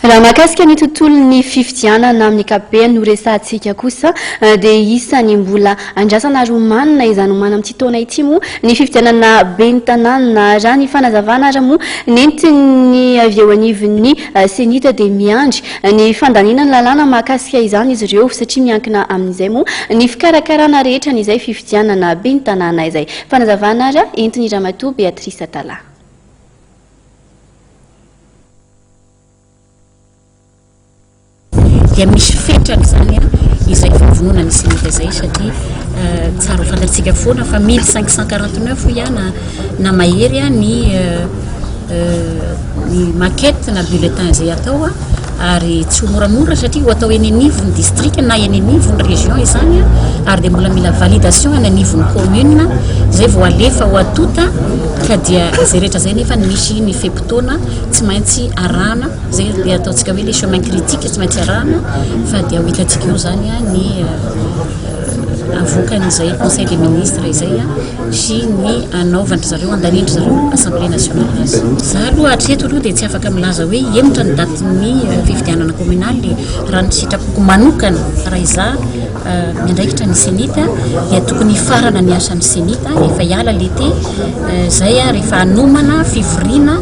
Raha mahakasika ny tontolon'ny fifidianana amin'ny ankapobeny no resahantsika kosa dia isan'ny mbola andrasana ary omanina izany omaly amin'ity taona ity moa ny fifidianana ben'ny tanàna. Raha ny fanazavana ary moa nentin'ny avy eo anivon'ny Cenit dia miandry ny fandaniana ny lalàna mahakasika izany izy ireo satria miankina amin'izay moa ny fikarakarana rehetra an'izay fifidianana ben'ny tanàna izay. Fanazavana ary entin'i Ramatoa Beatrice Atalaha. dia misy fetrany izany an izay fivononana islamika izay satria euh, tsara ho fantatsika foana fa mille cinq cent quarante neuf ihana na mahery a ny euh, euh, ny maquette na bulletin izay atao a ary tsy ho moramora satria ho atao eny anivon'ny distrika na eny anivon'ny région izany a ary dia mbola mila validation any anivon'ny commune izay vao alefa ho atota ka dia izay rehetra izay nefa ny misy ny fep fotoana tsy maintsy arahana zay le ataontsika hoe le chemin critique tsy maintsy arahana fa dia ho hitantsika eo zany a ny euh, avoakan'izay conseil des ministres izay a sy ny anaovandry zareo andanindry zareo assemblée nationale azy za aloha hatreto aloha dia tsy afaka milaza hoe hemotra ny datin'ny euh, fifidianana communale raha ny sitrapoko manokana raha iza miandraikitra ny zenith dia tokony hifarana ny asan'ny zenith rehefa hiala l'été izay rehefa hanomana fivoriana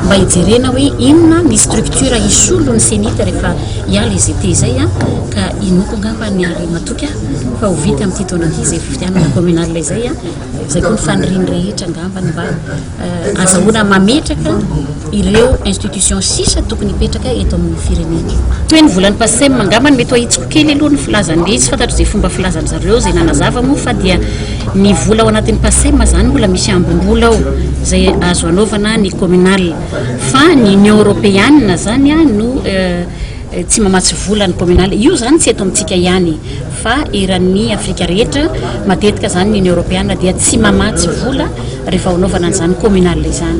mba hijerena hoe inona ny structure hisolo ny zenith rehefa hiala izy été izay ka inoako angamba ny ary matoky fa ho vita amin'ity taona ity izay fifidianana communal izay izay koa ny fanirian'ny rehetra angamba ny mba azahoana mametraka ireo institutions sisa tokony hipetraka eto amin'ny firenena. Toy ny volan'ny PACEM angamba no mety ho ahitsiko kely aloha ny filazany dia tsy fantatro izay fomba filazany zareo izay nanazava moa fa dia ny vola ao anatin'ny PACEM izany mbola misy ambim-bola ao izay azo anaovana ny communal fa ny Union Européenne izany no Tsy mamatsy vola ny Kominaly. Io izany tsy eto amintsika ihany fa eran'ny Afrika rehetra. Matetika izany ny Union Europeana dia tsy mamatsy vola rehefa hanaovana an'izany Kominaly izany.